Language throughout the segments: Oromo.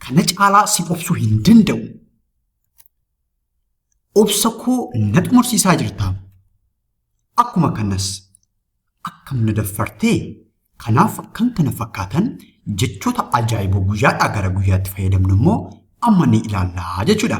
Kana caalaa si obsuu hin danda'u. Obsa koo na xumursiisaa jirta. Akkuma kanas akkam na daffartee kanaaf kan kana fakkaatan jechoota ajaa'iboo guyyaadhaa gara guyyaatti fayyadamnu immoo amma ni ilaallaa jechuudha.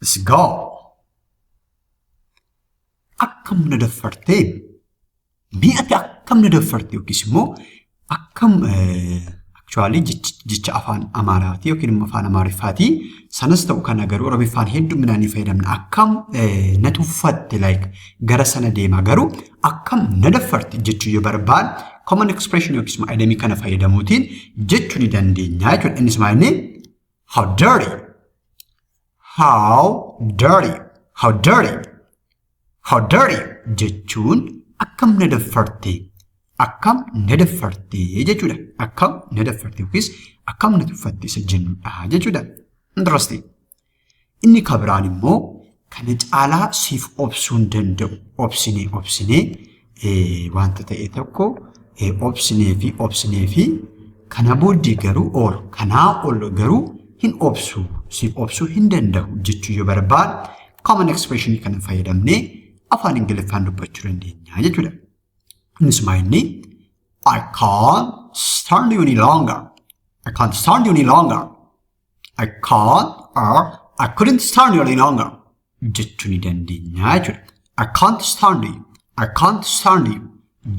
Let's go. Akkam na daffartee? Mee ati akkam na daffarte yookiis immoo akkam actually jecha afaan Amaaraatii yookiin immoo afaan Amaariffaatii sanas ta'u kana garuu Oromiffaan hedduminaan ni fayyadamna. Akkam na tuffatte like gara sana deema garuu akkam na daffarte jechuu yoo barbaad common expression yookiis immoo idemii kana fayyadamuutiin jechuu ni dandeenya jechuudha. Innis maal inni How dirty. How dirty. How dirty. How dirty jechuun akkam na daffarte. Akkam na daffarte jechuudha. Akkam na daffarte yookiis akkam na tuffatte isa jennudha jechuudha. Interesting. Inni ka biraan immoo kana caalaa siif obsuu hin danda'u. Obsinee obsinee wanta ta'e tokko obsinee fi obsinee fi kana booddee garuu ool kanaa ol garuu hin obsu siif obsuu hin danda'u jechuu yoo barbaadu common expression kana fayyadamnee afaan ingiliffaan dubbachuu dandeenya jechuudha. Innis maa inni I can't stand you any longer. I can't stand you any longer. I can't or I couldn't stand you any longer jechuu ni dandeenya jechuudha. I can't stand you. I can't stand you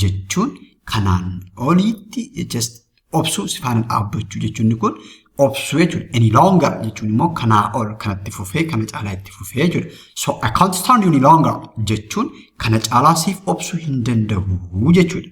jechuun kanaan oliitti just obsuu si faana dhaabbachuu jechuun inni kun obsuu jechuudha. Any longer jechuun immoo kanaa ol kanatti fufee kana caalaa itti fufee jechuudha. So I can't stand you any longer jechuun kana caalaa siif obsuu hin danda'u jechuudha.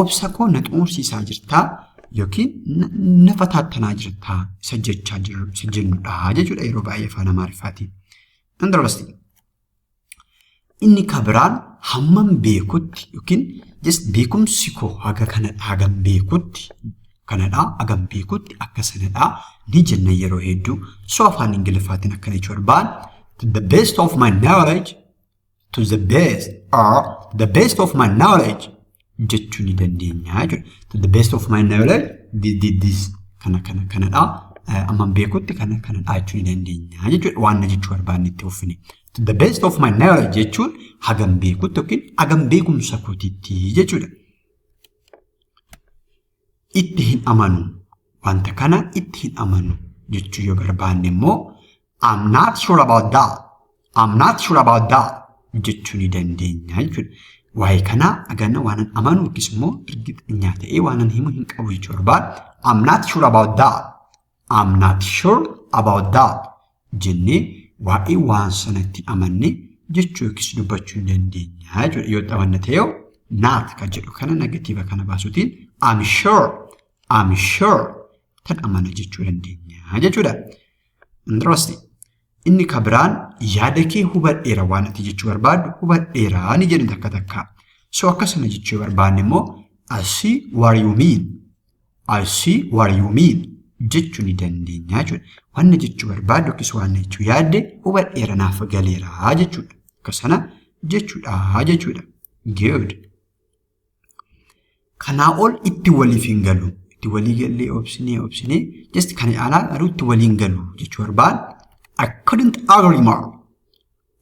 obsa koo na xuunsiisaa jirtaa yookiin na fataattanaa jirtaa isa jechaa jiru isa jennudha jechuudha yeroo baay'ee afaan amaariffaatiin. Interesting. Inni kan biraan hammam beekutti yookiin just beekumsi koo haga kanadha hagam beekutti kanadha hagam beekutti akka sanadha ni jenna yeroo hedduu so afaan ingiliffaatiin akkana jechuudha. But the best of my knowledge to the best or the best of my knowledge jechuu ni dandeenya jechuudha. To the best of my knowledge this, this, this kana kana kanadha. Eh, Amman beekutti kana kanadha jechuu ni dandeenya jechuudha. Waan na jechuu barbaanne itti uffine. To the best of my knowledge jechuun hagam beekutti yookiin hagam beekumsa kootitti jechuudha. itti hin amanu. Wanta kana itti hin amanu jechuu yoo barbaanne immoo I'm not sure about that. I'm not sure about that jechuu ni dandeenya jechuudha. Waa'ee kanaa aganna waanan amanu yookiis immoo ergixinyaa ta'ee waanan himu hin qabu jechuu barbaada. I'm not sure about that. I'm not sure about that jennee waa'ee waan sanatti amanne jechuu yookiis dubbachuu hin dandeenya jechuudha. Yoo itti amanna ta'e yoo not kan jedhu kana negatiiva kana baasuutiin I'm sure I'm sure tan amana jechuu dandeenya jechuudha. Interesting. Inni ka biraan yaada kee hubadheera waan ati jechuu barbaaddu hubadheera ni jedhu takka takka. So akkasuma jechuu barbaanne immoo I see what you mean. I see what you mean jechuu ni dandeenya jechuudha. Wanna jechuu barbaaddu yookiis wanna jechuu yaadde hubadheera naaf galeera jechuudha. Akka sana jechuudha jechuudha. Good. Kanaa ol itti waliif hin galu. Itti walii gallee obsinee obsinee just kana caalaa garuu itti waliin galu jechuu barbaadna. I couldn't agree more.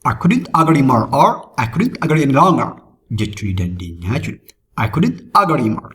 I couldn't agree more or I couldn't agree any longer jechuu ni dandeenya jechuudha. I couldn't agree more.